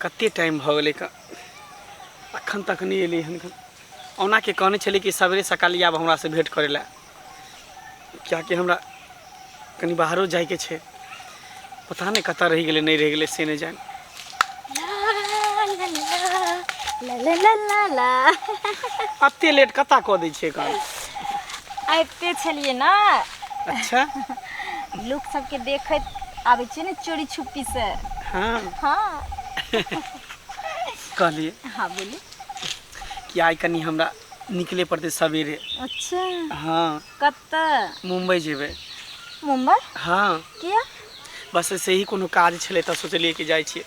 कते टाइम भऽ गेलै क- अखन तक नहि एलै हन क- ओना के कहने छलै कि सवेरे सकाल आब हमरासँ भेँट करै लए किएकि हमरा कनि बाहरो जायके छै पता नहि कतऽ रहि गेलै नहि रहि गेलै से नहि जान ला ला ला ला ला अते लेट कतऽ कऽ दै छियै काम आबिते छलियै ने अच्छा लोक सबके देखैत आबै छियै ने चोरी छुपी से हाँ हाँ कहलिए हाँ बोली कि आइ कनी हमरा निकले पड़ते सवेरे अच्छा हाँ कत मुंबई जेबे मुंबई हाँ किया बस ऐसे ही कोनो काज छले तो सोचलिए कि जाए छे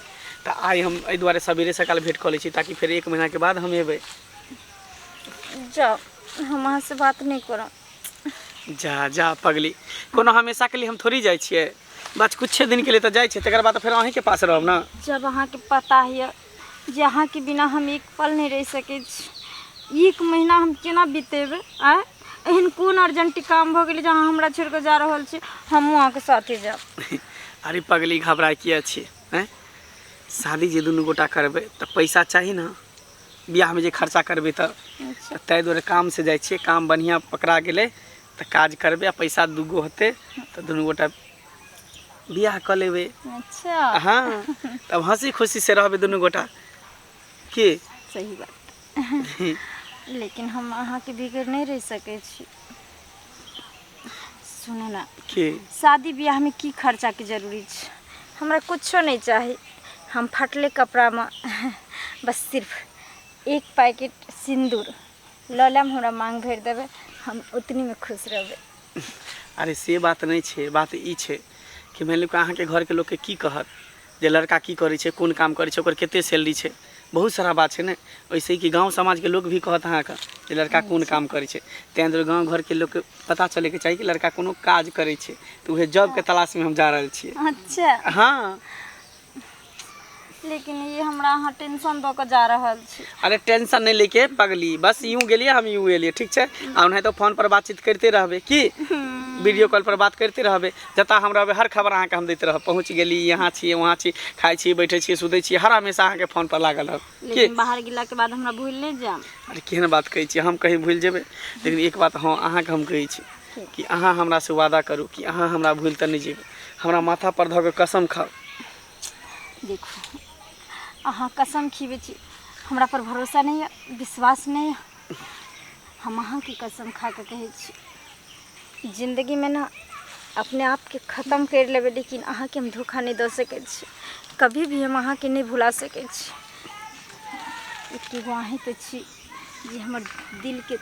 तो आई हम ए दुआरे सवेरे सकाल भेंट कर ले छी ताकि फिर एक महीना के बाद हम एबे जाओ हम अहाँ से बात नहीं करब जा जा पगली कोनो हमेशा के लिए हम थोड़ी जाइ छियै बस कुछे दिन के लिए तऽ जाइ छियै तकर बाद तऽ फेर अहींके पास रहब ने जब अहाँके पता यऽ जे अहाँके बिना हम एक पल नहि रहि सकै छी एक महीना हम केना बितेबै आँय एहन कोन अर्जेंट काम भऽ गेलै जे अहाँ हमरा छोड़ि कऽ जा रहल छी हमहूँ अहाँके साथे जायब अरे पगली घबराय किया छियै हैं शादी जे दुनू गोटा करबै तऽ पैसा चाही ने बिआहमे जे खर्चा करबै तऽ अच्छा ताहि दुआरे कामसँ जाइ छियै काम बढ़िआँ पकड़ा गेलै तऽ काज करबै आ पैसा दूगो होतै तऽ दुनू गोटा बिआह कऽ लेबै अच्छा हँ तब हँसी खुशीसँ रहबै दुनू गोटा की सही बात लेकिन हम अहाँके बिगड़ नहि रहि सकै छी सुनू ने की शादी ब्याहमे की खर्चाके जरूरी छै हमरा कुछो नहि चाही हम फटले कपड़ामे बस सिर्फ एक पैकेट सिन्दूर लऽ लेब हमरा माँग भरि देबै हम ओतनीमे खुश रहबै अरे से बात नहि छै बात ई छै कि मानि लिअ कि अहाँके घरके लोकके की कहत जे लड़का की करै छै कोन काम करै छै ओकर कते सैलरी छै बहुत सारा बात छै ने ओहिसँ कि गाँव समाजके लोक भी कहत अहाँके जे लड़का कोन काम करै छै ताहि दुआरे गाँव घरके लोकके पता चलैके चाही कि लड़का कोनो काज करै छै तऽ उहे जॉबके तलाशमे हम जा रहल छियै अच्छा हँ लेकिन ये हमरा अहाँ टेंशन दऽ कऽ जा रहल छी अरे टेंशन नहि लेके पगली बस यूं गेलिए हम यूं एलिए ठीक छै आ ओनाहितो फोन पर बातचीत करते रहबे की वीडियो कॉल पर बात करते रहबे जतऽ हम रहबै हर खबर अहाँके हम दैत रहब पहुँच गेली यहाँ छी वहाँ छी खाइ छी बैठै छी सुतै छी हर हमेशा अहाँके फोन पर लागल रहब की लेकिन बाहर गेलाके बाद हमरा भूल नहि जायब अरे केहन बात कहै छी हम कहीं भूलि जेबै लेकिन एक बात हँ अहाँके हम कहै छी कि अहाँ हमरा से वादा करू कि अहाँ हमरा भूलि तऽ नहि जेबै हमरा माथा पर धऽ कऽ कसम खाउ देखू अहाँ कसम खीबै छी हमरा पर भरोसा नहि यऽ विश्वास नहि यऽ हम अहाँके कसम खा कऽ कहै छी जिन्दगीमे ने अपने आपके खतम करि लेबै लेकिन अहाँके हम धोखा नहि दऽ सकै छी कभी भी हम अहाँके नहि भुला सकै छी एके गो अहीं तऽ छी जे हमर दिलके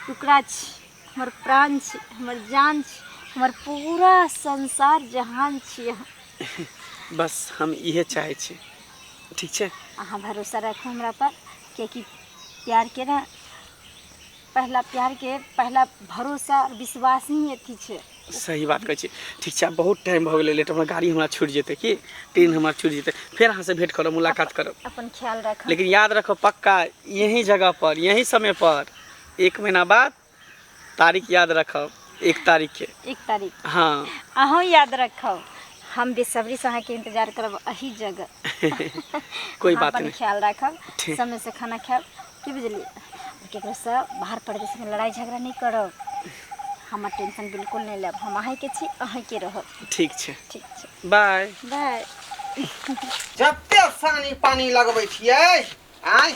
टुकड़ा छी हमर प्राण छी हमर जान छी हमर पूरा संसार जहान छी अहाँ बस हम इहे चाहै छी ठीक छै अहाँ भरोसा राखू हमरा पर किएकि प्यारके ने पहिला प्यारके पहिला भरोसा आओर विश्वास ही अथी छै सही बात कहै छी ठीक छै आब बहुत टाइम भऽ गेलै लेट हमरा गाड़ी हमरा छूटि जेतै की ट्रेन हमरा छूटि जेतै फेर अहाँसँ भेंट करब मुलाकात करब अपन ख्याल राखब लेकिन याद रखब पक्का यही जगह पर यही समय पर एक महीना बाद तारीख याद रखब एक तारीख के एक तारीख हँ अहूँ याद रखब हम बेसब्रीसँ अहाँके इंतजार करब अही जगह कोई अहाँ बात अपन नहि ख्याल राखब ठीक। समयसँ खाना खायब की बुझलियै आओर ककरोसँ बाहर परदेशमे लड़ाइ झगड़ा नहि करब हमर टेंशन बिल्कुल नहि लेब हम अहीँके छी अहीँके रहब ठीक छै ठीक छै बाय बाय जते सानी पानी लगबै छियै आय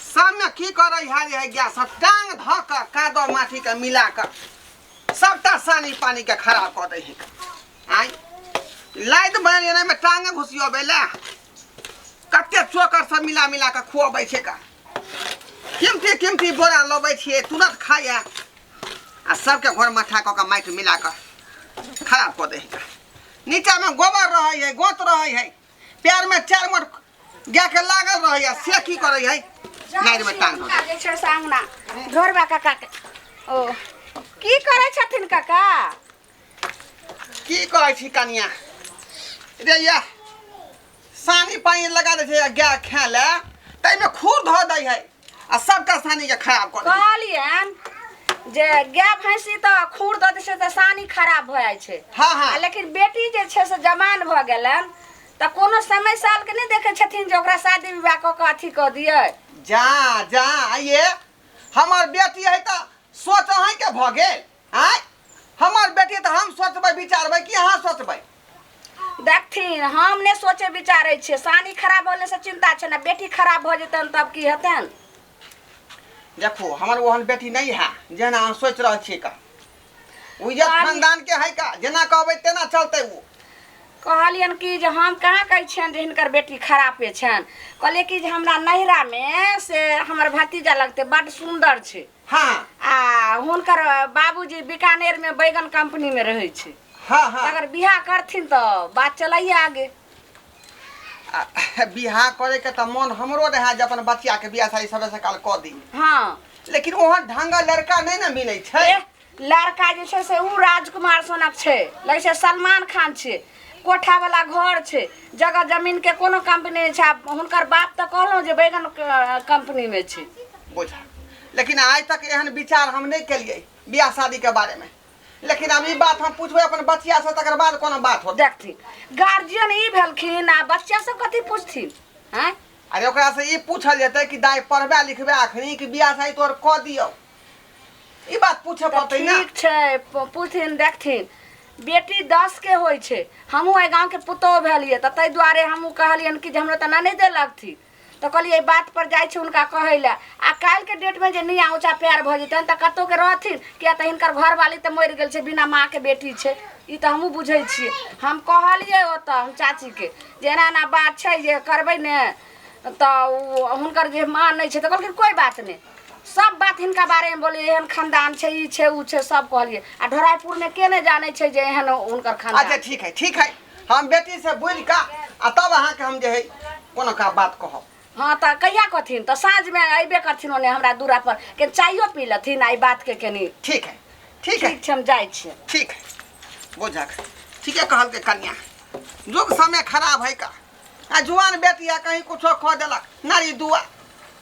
सबमे की करै है जे गैस सब टांग ध क कादो माटी के मिला क सबटा सानी पानी के खराब कऽ दै है आय लाइट बन जेना में टांगे घुसियो बेला कते चोकर सब मिला मिला के खुआबै छै का किमती किमती बोरा लबै छियै तुरंत खाइए आ सबके घर माथा कऽ के माटि मिला कऽ खराब कऽ दै है नीचामे गोबर रहै है गोत रहै है पैरमे चार मोट गायके लागल रहै है से की करै है नारिमे टांग दऽ दै। जे छै से अंगना ढोरबा काका के ओ की करै छथिन काका की कहै छी कनिया रे या सानी पानी लगा दै छै गाय खाय ले ताहिमे खूर धो दै है आ सबटा सानीके खराब कऽ दै कहलियन जे गाय भैंसी तऽ खूर दऽ दै छै तऽ सानी खराब भऽ जाइ छै हँ हँ आ लेकिन बेटी जे छै से जवान भऽ गेलन तऽ कोनो समय सालके नहि देखै छथिन जे ओकरा शादी विवाह कऽ कऽ अथी कऽ दियै जा जा आइए हमर बेटी है तऽ सोच अहींके भऽ गेल आय हमर बेटी तऽ हम सोचबै विचारबै कि अहाँ सोचबै देखथिन हम नहि सोचे विचारे छियै सानी खराब होने से चिंता छै ने बेटी खराब भऽ जेतन तब की हेतन देखू हमर ओहन बेटी नहि है जेना अहाँ सोचि रहल छियै का ओ इज्जत बाबी- खानदान के है का जेना कहबै तेना चलतै ओ कहलियन कि जे हम कहाँ कहै छियनि जे हिनकर बेटी खरापे छनि कहलियै कि जे हमरा नैहरामे से हमर भतीजा लगतै बड्ड सुन्दर छै हाँ आ हुनकर बाबूजी बीकानेर में बैगन कंपनी में रहे छे हाँ हाँ अगर बियाह करथिन तो बात चलाइए आगे आ, बियाह करे के त मन हमरो रहे जे अपन बच्चा के बियाह शादी सबे से काल क दी हाँ लेकिन ओहन ढंगा लड़का नहीं ना मिले छे ए, लड़का जे छै से ओ राजकुमार सोनक छै लगै छै सलमान खान छै कोठावला घर छै जगह जमीनके कोनो कंपनी नहि छै आब हुनकर बाप तऽ कहलहुँ जे बैगन क- कंपनीमे छै बुझा लेकिन आज तक एहन विचार हम नहीं केलिए ब्याह शादी के बारे में लेकिन अब ई बात हम पूछबे अपन बचिया से तकर बाद कोनो बात होत देखथिन गार्जियन ई भेलखिन आ बच्चा सब कथी पूछथिन आँय अरे ओकरा से ई पूछल जेतै कि दाई पढ़बे लिखबे अखनी कि ब्याह शादी तोहर कऽ दियौ ई बात पूछे तऽ पड़तै ना ठीक छै प- पूछथिन देखथिन बेटी दस के होइ छै हमहूँ एहि गाँवके पुतोहु भेलियै तऽ ताहि दुआरे हमहूँ कहलियनि कि जे हमरा तऽ नहि दे लगथिन तऽ कहलियै एहि बात पर जाइ छी हुनका कहै लए आ काल्हिके डेटमे जे निया ऊँचा प्यार भऽ जेतनि तऽ कतहु के रहथिन किया तऽ हिनकर घरवाली तऽ मरि गेल छै बिना माँ के बेटी छै ई तऽ हमहूँ बुझै छियै हम कहलियै ओतऽ हम चाचीके जे एना एना बात छै जे करबै ने तऽ ओ हुनकर जे माँ नहि छै तऽ कहलखिन कोइ बात नहि सब बात हिनका बारेमे बोलिए एहन खानदान छै ई छै उ छै सब कहलिए आ ढोरायपुरमे के नहि जानै छै जे एहन हुनकर अच्छा खानदान ठीक है ठीक है हम बेटी से बोल का आ तब अहाँ के हम जे है कोनो का बात कहब हाँ तऽ कहिया कहथिन तऽ साँझमे अयबे करथिन ओने हमरा दूरा पर के चाइयो पी लेथिन आ ई बातके कनि ठीक है ठीक है ठीक छै हम जाइ छियै ठीक है बुझक ठीके कहल के कन्या युग समय खराब है का आ जुआन बेटिया कहीं कुछो कह देलक नारी दुआ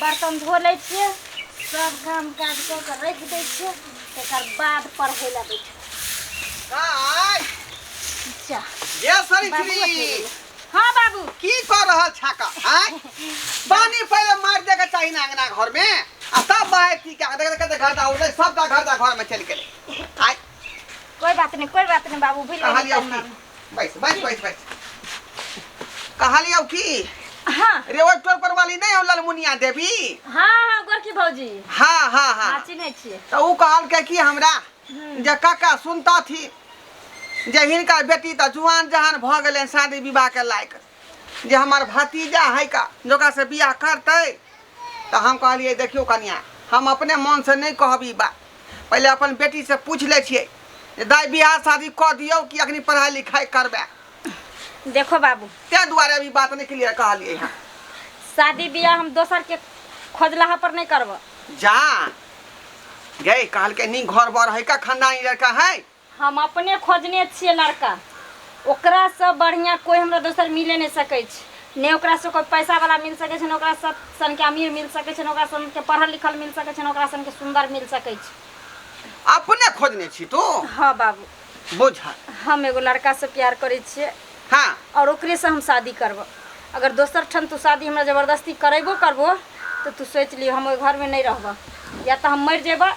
बर्तन धो लै छियै सब काम काज कऽ कऽ राखि दै छियै तकर बाद पढ़ै लए बैठ हाँ बाबू की कऽ रहल छाका पानी पहिले मारि दे के चाही ना अंगना घर में आ तब बाहर की क्या देख देख घर दा उठले सब का घर दा घर में चल गेले कोई बात नहीं कोई बात नहीं बाबू भूल कहलिए बैस बैस बैस बैस कहलियौ की हाँ रे ओहि टोल पर वाली नहीं हो ललमुनिया देवी हाँ हाँ गोरकी भौजी हाँ हाँ हाँ हाँ चिन्है छियै तो ऊ कहलकै कि हमरा जे काका सुनता थी जे हिनकर बेटी तऽ जुआन जहान भऽ गेलै शादी विवाह के लायक जे हमर भतीजा है का जोका से बियाह करते तो हम कहलिए देखियो कनिया हम अपने मन से नहीं कहब ई बात पहले अपन बेटी से पूछ ले छिए जे दाई बियाह शादी क दियो कि अखनी पढ़ाई लिखाई करबे देखो बाबू ते दुआरे अभी बात नहीं क्लियर कहलिए हां शादी बियाह हम दोसर के खोजलाहा पर नहीं करब जा गए कहल के नहीं घर बर है का खानदानी लड़का है हम अपने खोजने छियै लड़का ओकरासँ बढ़िआँ कोइ हमरा दोसर मिले नहि सकै छै ने ओकरासँ कोइ पैसावला मिल सकै छै ने ओकरा सब सनके अमीर मिल सकै छै ने ओकरा सनके पढ़ल लिखल मिल सकै छै ने ओकरा सनके सुन्दर मिल सकै छै अपने खोजने छी तू हँ बाबू बुझल हम एगो लड़कासँ प्यार करै छियै हँ आओर ओकरेसँ हम शादी करबो अगर दोसर ठाम तू शादी हमरा जबरदस्ती करेबो करबो तऽ तू सोचि लिहो हम ओहि घरमे नहि रहबह या तऽ हम मरि जेबह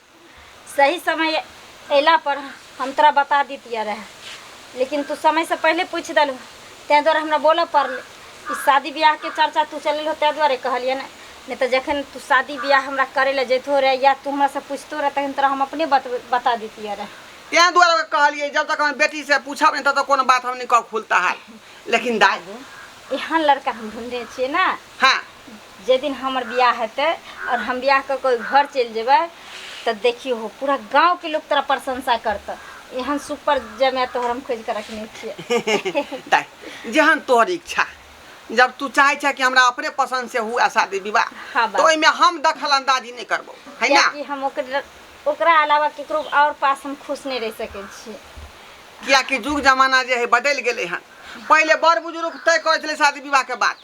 सही समय अयला पर हम तोरा बता दितिया रहे लेकिन तू समय से पहले पूछ दलू तै द्वारा हमरा बोलऽ पड़ल ई शादी ब्याह के चर्चा तू चल हो तै द्वारे कहलिए ने नहीं तो जखन तू शादी ब्याह हमरा करे ले जैतो रहे या तू हमरा से पूछतो रहे तखन तोरा हम अपने बत, बता दितिया रहे तै द्वारा कहलिए जब तक हम बेटी से पूछब नहीं तब तक कोनो बात हम नहीं कह खुलता हाल लेकिन दाई एहन लड़का हम ढूंढे छिए ना हाँ जाहि दिन हमर बियाह हेतै आओर हम बियाह कऽ कऽ घर चलि जेबै तऽ देखियौ हो पूरा गाँवके लोक तोरा प्रशंसा करतऽ एहन सुपर जमाय तोहर हम खोजि कऽ रखने छियै दाइ जेहन तोहर इच्छा जब तू चाहे छे कि हमरा अपने पसंद से हुआ शादी विवाह हाँ, बा। तो ओहिमे हम दखल अंदाजी नहि करबो है ना कियाकि हम ओकर ओकरा अलावा केकरो आओर पास हम खुश नहि रहि सकै छियै कियाकि युग जमाना जे है बदलि गेलै हन पहिले बड़ बुजुर्ग तय करै छलै शादी विवाह के बात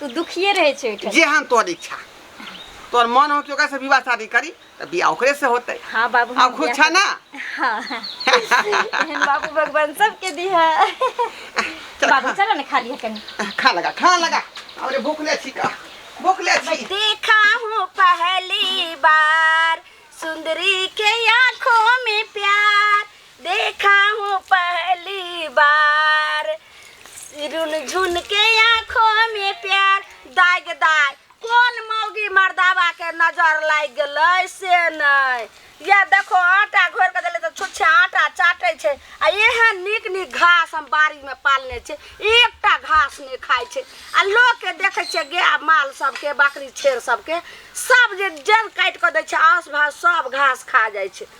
तू दुखिए रहै छै ओहिठाम जेहन तोर इच्छा तोर मन हो कि ओकरा से विवाह शादी करी तऽ बियाह ओकरे से होतै हाँ बाबू आब हम खुश बियाह छऽ ना हाँ एहन बाबू भगवान सबके दिहा बाबू चलो ने खा लिया कनी खा लगा खा लगा अरे भूख ले छी का भूख ले छी देखा हूँ पहली बार सुंदरी के आंखों में प्यार देखाऊं पहली बार रुन झुन के आंखों में प्यार दाग दाग कौन मौगी मर्दावा के नजर लाग गलै से नै या देखो आटा घोर के देले तो छुच्छे आटा चाटे छे आ एहन नीक नीक घास हम बाड़ी में पालने छे एकटा घास नहीं खाए छे आ लोग के देखे छे गाय माल सबके बकरी छेर सबके सब जे जड़ काट के दे छे आस भास सब घास खा जाए छे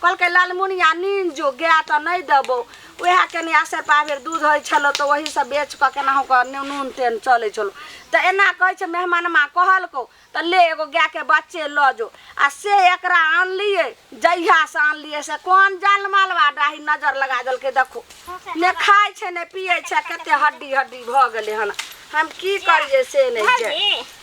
कहलकै लालमुनिया नीन जो गाय तऽ नहि देबौ उएह कनि आसे पाभरि दूध होइ छलौ तऽ ओहीसँ बेच कऽ केनाहु कऽ नू- नून तेन चलै छलौ तऽ एना कहै छै मेहमानमा कहलकौ तऽ ले एगो गायके बच्चे लऽ जो आ से एकरा आनलियै जहियासँ आनलियै से कोन जाल मालवा डाही नजर लगा देलकै देखो ने खाइ छै ने पियै छै कते हड्डी हड्डी भऽ गेलै हन हम की करियै से नहि छै भाभी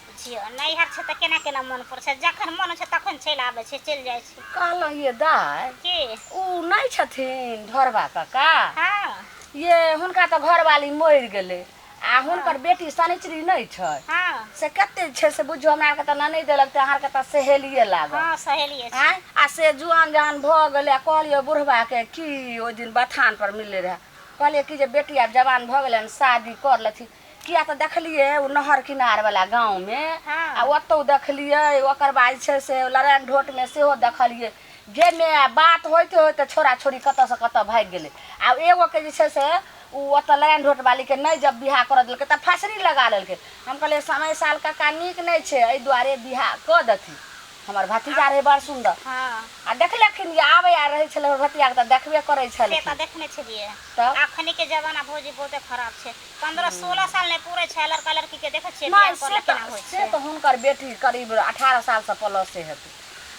पुछियौ नैहर छै तऽ केना केना मन पड़ै छै जखन मन होइ छै तखन चलि आबै छै चलि जाइ छै कहलहुँ ये दाय की ओ नहि छथिन ढोरबा कका हँ ये हुनका तऽ घरवाली मरि गेलै आ हुनकर बेटी शनिचरी नहि छै हँ से कते छै से बुझियौ हमरा आरके तऽ नहि देलक तऽ अहाँके तऽ सहेलिए लागल हँ सहेलिए छै आँय आ से जुआन जहान भऽ गेलै आ कहलियै बुढ़बाके की ओहि दिन बथान पर मिलले रहए कहलियै कि जे बेटी आब जवान भऽ गेलै हन शादी कर लेथिन किया तऽ देखलियै ओ नहर किनारवला गाँवमे हँ। आ ओतहु देखलियै ओकर बाद जे छै से लड़ाइन ढोटमे सेहो देखलियै जे मे बात होइते होइते छोड़ा छोड़ी कतऽसँ कतऽ भागि गेलै आ एगोके जे छै से ओ ओतऽ लड़ाइन ढोट बालीके नहि जब बियाह करऽ देलकै तऽ फसरी लगा लेलकै हम कहलियै समय साल कक्का नीक नहि छै एहि दुआरे बियाह कऽ देथिन हमर भतीजा रहै बड़ सुन्दर हँ आ देखलखिन जे आबै आ रहै छलै हमर भतीजाके तऽ देखबे करै से तऽ छलखिन देखने छलियै तब? अखनी के जमाना भौजी बहुते खराब छै पन्द्रह सोलह साल नहि पूरे छै लड़का लड़की के देखे छियै बियाह कर लेकिन होइ छै से तऽ हुनकर बेटी करीब अठारह साल से प्लस से हेतै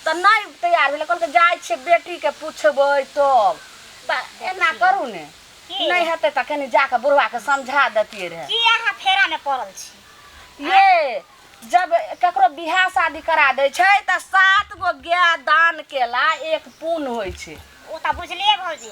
तऽ नहि तैयार भेलै कहलकै जाइ छियै बेटी के पूछबै तब तऽ एना करू ने नहि हेतै तऽ कनि जाके बुढ़वा के समझा देतियै रहे की अहाँ फेरा में पड़ल छी ये जब ककरो बियाह शादी करा दै छै तऽ सात गो गाय दान केला एक पुण्य होइ छै ओ तऽ बुझलियै भौजी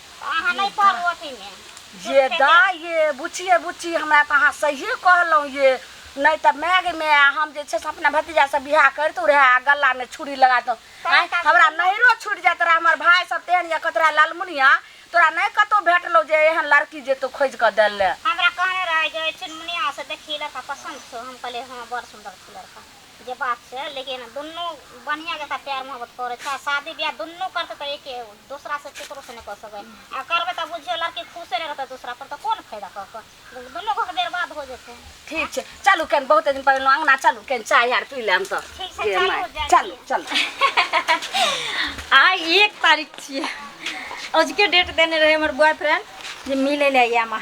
अहाँ नहि पढ़ू अथीमे जे दा ये बुच्ची ये बुच्ची हमरा तऽ अहाँ सहिए कहलहुँ ये नहि तऽ माय गे माय हम जे छै से अपना भतीजासँ बियाह करितहुँ रहए आ गलामे छुरी लगा दहुँ आँय, हमरा नैहरो छुटि जाइत रहए हमर भाय सब तेहन यऽ कहैत रहए लालमुनिया तोरा नहि कतहु भेटलौ जे एहन लड़की जे तू खोजि कऽ देल ले हमरा कहने रहै जे ओहि चुनमुनियासँ देखी लड़का पसन्द छौ हम कहलियै हँ बड़ सुन्दर छै लड़का जे बात छै लेकिन दुनू बढ़िया जकाँ प्यार मोहब्बत करै छै आ शादी बियाह दुनू करतै तऽ एके दोसरा से केकरो से नहि कऽ सकै आ करबै तऽ बुझियो लड़की खुशे नहि रहतै दोसरा पर तऽ कोन फायदा कऽ कऽ दुनू घर बर्बाद हो जेतै ठीक छै चलू केन बहुत दिन पर अंगना चलू केन चाय आर पी लेम तऽ ठीक छै चलू चलू चलू आइ एक तारीख छियै अजुके डेट देने रहै हमर बॉयफ्रेंड जे मिलै लए आइए अहाँ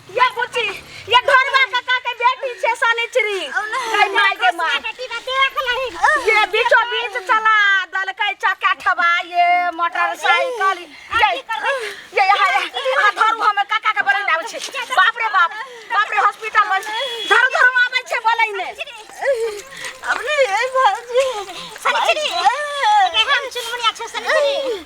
ये बुची ये घरवा काका के बेटी छे सनिचरी कई माय के माय बेटी बा देख लही ये बीचो बीच चला दलकै चक्का ठबा ये मोटरसाइकिल ये ये हाय आ धरू हमें काका के बोलै आबै छे बाप रे बाप बाप रे हॉस्पिटल में धरू धरू आबै छे बोलै ने अपने ए भाजी सनिचरी के हम चुनमुनिया छे सनिचरी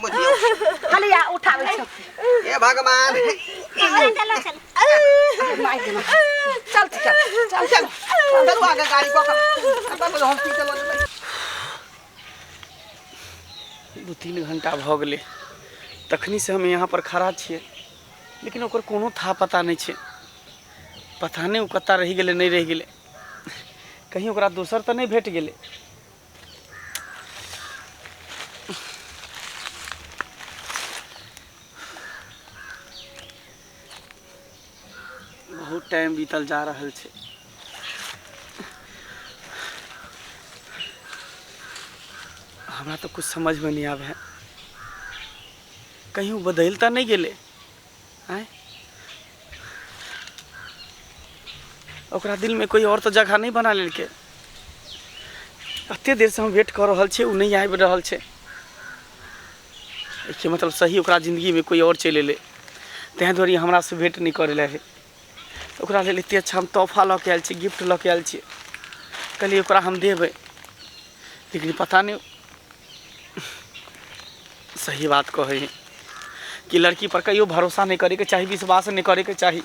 खाली आ उठाबै छै हे भगवान चल चल चल मार दे मार। चल चल चल चल चल आगे गाड़ी को कब तो हम पीछे लग गए दू तीन घंटा भऽ गेलै तखनी से हम यहाँ पर खड़ा छियै लेकिन ओकर कोनो था पता नहि छै पता नहि ओ कतऽ रहि गेलै नहि रहि गेलै कहीं ओकरा दोसर तऽ नहि भेट गेलै बहुत टाइम बीतल जा रहल छै हमरा तऽ किछु समझमे नहि आबै है कहीं ओ बदलि तऽ नहि गेलै आँय ओकरा दिलमे कोइ आओर तऽ जगह नहि बना लेलकै एतेक देरसँ हम वेट कऽ रहल छियै ओ नहि आबि रहल छै एहिके मतलब सही ओकरा जिन्दगीमे कोइ आओर चलि एलै ताहि दुआरे हमरासँ भेट नहि करै लए ओकरा लेल एते अच्छा हम तोहफा लऽ के आयल छी गिफ्ट लऽ के आयल छी कहलियै ओकरा हम देबै लेकिन पता नहि सही बात कहै है कि लड़की पर कहियो भरोसा नहि करैके चाही विश्वास नहि करैके चाही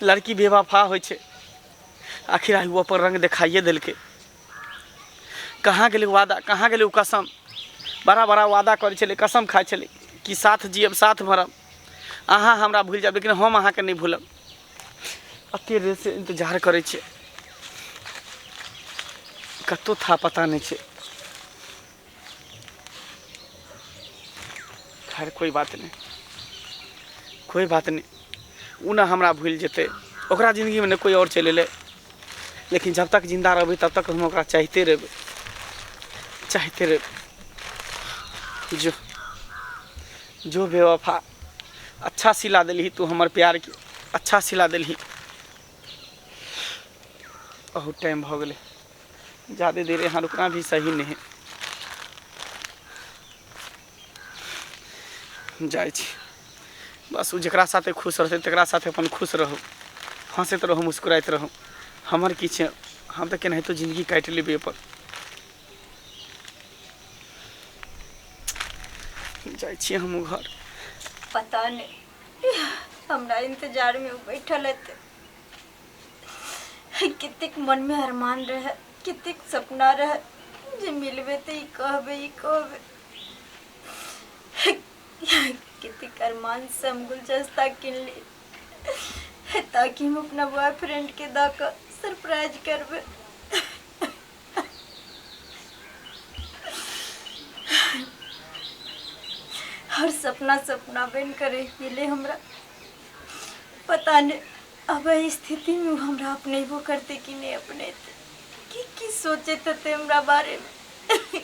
लड़की बेवफा होइ छै आखिर आइ ओ अपन रंग देखाइए देलकै कहाँ गेलै वादा कहाँ गेलै ओ कसम बड़ा बड़ा वादा करै छलै कसम खाइ छलै कि साथ जियब साथ मरब अहाँ हमरा भूलि जायब लेकिन हम अहाँके नहि भूलब एतेक देरसँ इन्तजार करै छियै कतहु था पता नहि छै खैर कोइ बात नहि कोइ बात नहि ओ ने हमरा भूलि जेतै ओकरा जिन्दगीमे ने कोइ आओर चलि एलै लेकिन जब तक जिन्दा रहबै तब तक हम ओकरा चाहिते रहबै चाहिते रहबै जो जो बेवफा अच्छा सिला दिलही तू हमर प्यार के अच्छा सिला दिलही बहुत टाइम भऽ गेलै जादे देर यहाँ रुकना भी सही नहीं जाए छी बस ओ जकरा साथे खुश रहतै तकरा साथे अपन खुश रहू हँसैत रहू मुस्कुराइत रहू हमर की छै हम तऽ केनाहितो जिनगी काटि लेबै अपन जाइ छी हमहूँ घर पता नहि हमरा इन्तजारमे ओ बैठल हेतै कतेक मनमे अरमान रहए कतेक सपना रहए जे मिलबै तऽ ई कहबै ई कहबै कतेक अरमानसँ हम गुलदस्ता किनली ताकि हम अपना बॉयफ्रेंडके दऽ कऽ सरप्राइज करबै हर सपना सपना बन कर रह गेले हमरा पता नहीं अब एहि स्थिति में उ हमरा अपनेबो करते कि नहीं अपनेते की की सोचे तते हमरा बारे में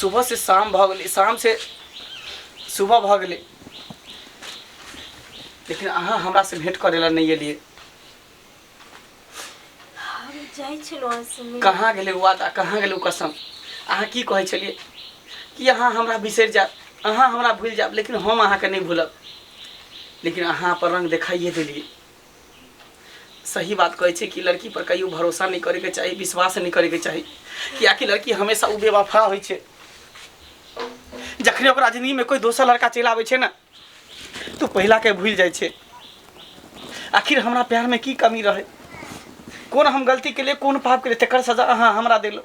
सुबह से शाम भऽ गेलै शाम से सुबह भऽ गेलै लेकिन अहाँ हमरा से भेंट करे ला नहीं एलिए हम जाइ छलहुँ अहाँ से मिले। कहाँ गेलै ओ वादा कहाँ गेलै ओ कसम अहाँ की कहै छलिए कि अहाँ हमरा बिसरि जायब अहाँ हमरा भूलि जायब लेकिन हम अहाँके नहि भूलब लेकिन अहाँ अपन रंग देखाइए देलिए सही बात कहै छै कि लड़की पर कहियो भरोसा नहि करैके चाही विश्वास नहि करैके चाही कियाकि लड़की हमेशा ओ बेवफा होइ छै जखने ओकरा जिंदगीमे कोइ दोसर लड़का चलि आबै छै ने तऽ पहिलाके भूलि जाइ छै आखिर हमरा प्यारमे की कमी रहै कोन हम गलती केलिए कोन पाप केलिए तकर सजा अहाँ हमरा देलहुँ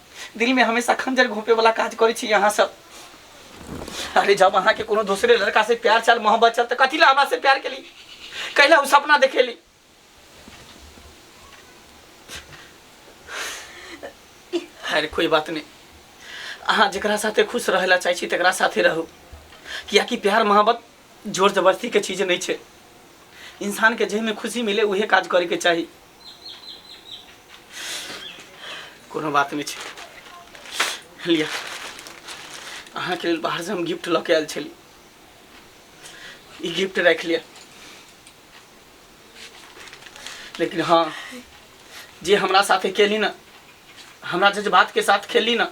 दिल में हमेशा खंजर घोपे वाला काज करे छी अहाँ सब अरे जब अहाँ के कोनो दूसरे लड़का से प्यार चल मोहब्बत चल तो कथी ला हमरा से प्यार के ली कैला उ सपना देखे ली अरे कोई बात नहीं अहाँ जकरा साथे खुश रहेला चाहै छी तकरा साथे रहू कियाकि प्यार मोहब्बत जोर जबरदस्तीके चीज नहि छै इंसानके जाहिमे खुशी मिले उहे काज करैके चाही कोनो बात नहि छै लिअ अहाँके लेल बाहरसँ हम गिफ्ट लऽ के आयल छली ई गिफ्ट राखि लिअ लेकिन हाँ जे हमरा साथे केली ना हमरा जज्बात के साथ खेली ना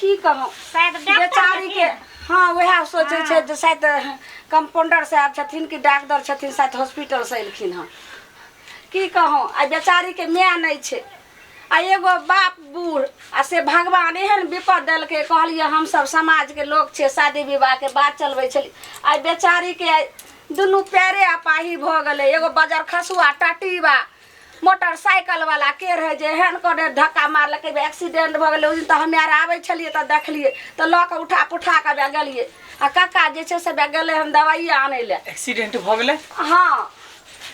की कहूँ शायद डॉक्टर बेचारी के छथिन। हाँ वएह सोचे छै जे शायद कंपाउंडर साहब छथिन कि डॉक्टर छथिन शायद हॉस्पिटल से एलखिन हँ की कहूँ आ बेचारी के माय नहीं छै आ एगो बाप बूढ़ आ से भगवान एहन विपद देलकै कहलिए हम सब समाज के लोग छै शादी विवाह के बात चलबै छली आ बेचारी के आइ दुनू पैरे अपाही भऽ गेलै एगो बजर खसुआ टाटी बा मोटरसाइकिल वाला के रहे जे एहन करे धक्का मारलकै बे एक्सीडेंट भऽ गेलै ओहि दिन तऽ हमे आर आबै छलियै तऽ देखलियै तऽ लऽ कऽ उठा पुठा कऽ बे गेलियै आ कक्का जे छै से बे गेलै हन दवाइए आनै लए एक्सीडेंट भऽ गेलै हँ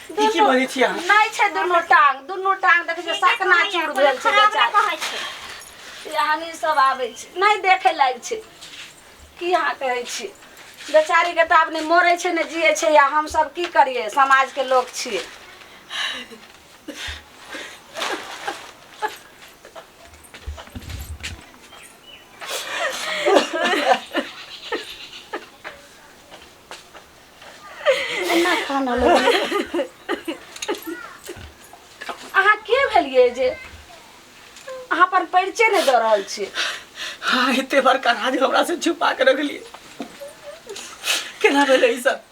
की की दुनू- बजै छी अहाँ? नहि छै दुनू टांग दुनू टांग देखै छै सकना चूर भेल छै बेचारी कहै छै ई हमही सब आबै छी नहि देखै लायक छै की अहाँ कहै छी बेचारीके तऽ आब नहि मरै छै ने जियै छै या हमसभ की करियै समाजके लोक छियै एना कानऽ लगलियै अहाँ के भेलियै जे अहाँ पर परिचय नहि दऽ रहल छी हाँ एते बड़का राज हमरा से छुपा के रखलिए केना भेलै ई सब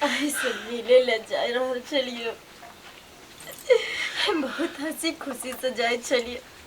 अहीं से मिले ले जाय रहल छलिए बहुत हंसी खुशी से जाय छलिए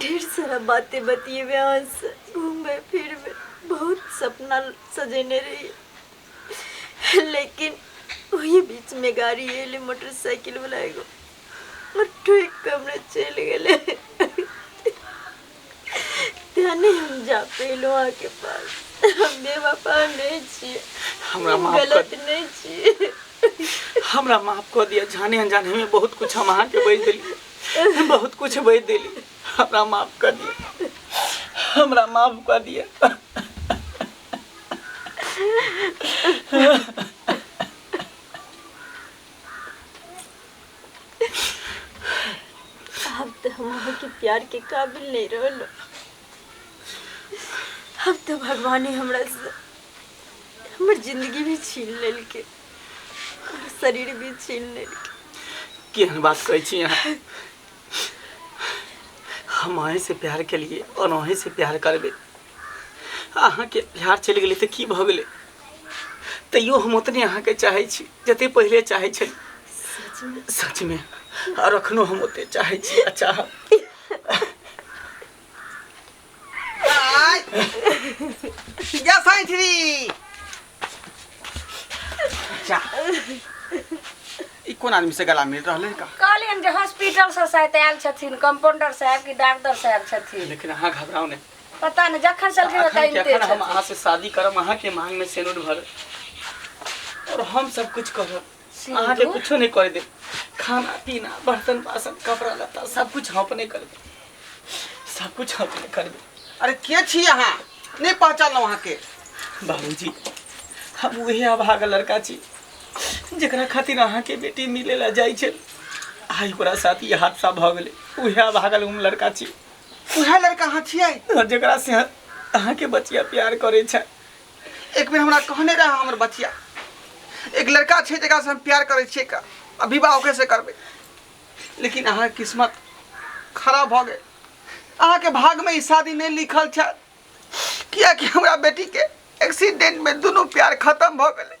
ढेर सारा बातें बतिएबे अहाँ से घूमबे फिरबे बहुत सपना सजेने रही लेकिन वही बीच में गाड़ी एले मोटरसाइकिल वाला एगो और ठीक कमरे चल गए त्याने हम जा पेलो वहाँ के पास हम बेवफा नहीं छिए हमरा हम माफ कर- गलत नहीं छिए हमरा माफ कऽ दिअ जाने अनजाने में बहुत कुछ हम अहाँके बजि देली हम बहुत कुछ बह दिली हमरा माफ कर दिए हमरा माफ कर दिए अब तो हम अहाँ के प्यार के काबिल नहीं रहलो अब तो भगवान ही हमरा से हमर जिंदगी भी छीन लेलके हमर शरीर भी छीन लेलकै केहन बात कहै छी अहाँ हम अहीं से प्यार केलिए और अहीं से प्यार करबे अहाँ के प्यार चलि गेलै तऽ की भऽ गेलै तैयो हम ओतने अहाँ के चाहै छी जते पहिले चाहै छली सच में और अखनो हम ओते चाहै छी आ चाहब कोन आदमी से गला मिल रहले का कहलियन जे हॉस्पिटल से शायद आयल छथिन कंपाउंडर साहब की डॉक्टर साहब छथिन लेकिन अहाँ घबराओ नहीं पता नहीं जखन से अखन के बताइते अखन हम अहाँ से शादी करब अहाँ के मांग में सेनुर भर और हम सब कुछ करब अहाँ के कुछो नहीं करे दे खाना पीना बर्तन बासन कपड़ा लत्ता सब कुछ हम अपने कर दे सब कुछ हम अपने कर दे अरे के छी अहाँ नहीं पहचान वहाँ के बाबूजी हम वही अभागा लड़का छी जरा खातिर अहा के बेटी मिले ला जाए छे आई ओकरा साथ ये हादसा भ गए वही अभागा हम लड़का छी वह लड़का अहाँ छियै जरा से अहा के बचिया प्यार करे छे एक बेर हमरा कहने रहा हमर बचिया एक लड़का छै जकरा से हम प्यार करै छियै का आ विवाह ओकरे से करबै लेकिन अहाँके किस्मत खराब भऽ गेल अहाँके भागमे ई शादी नहि लिखल छल कियाकि हमरा बेटीके एक्सीडेंटमे दुनू प्यार खतम भऽ गेलै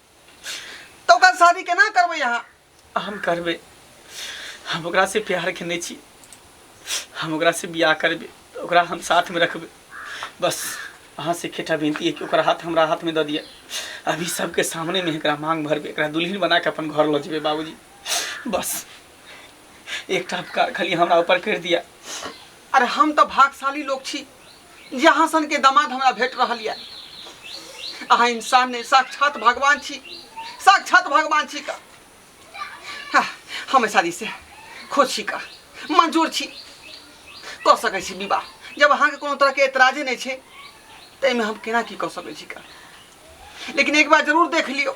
तो ओकर शादी केना करबै अहाँ हम करबै हम ओकरा से प्यार केने छी हम ओकरा से बियाह करबै तऽ ओकरा हम साथमे रखबै बस अहाँ से एकेटा विनती है कि ओकर हाथ हमरा हाथमे दऽ दिअ अभी सबके सामने में एकरा मांग भरबै एकरा दुल्हन बना के अपन घर लऽ जेबै बाबूजी बस एकटा उपकार खाली हमरा ऊपर करि दिअ अरे हम तऽ भागशाली लोग छी जे अहाँ सनके दामाद हमरा भेट रहल यऽ अहाँ इंसान नहि साक्षात भगवान छी साक्षात भगवान छी का हाँ, हमे शादी से खुश छी का मंजूर छी कऽ सकै छी विवाह जब अहाँके कोनो तरहके एतराजे नहि छै तऽ एहिमे हम केना की कऽ सकै छी का लेकिन एक बार जरूर देख लियौ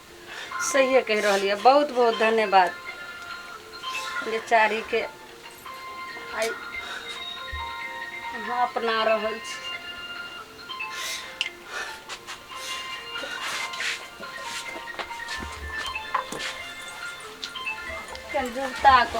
सहिए कहि रहल यऽ बहुत बहुत धन्यवाद बेचारीके आइ अहाँ अपना रहल छी जुगता को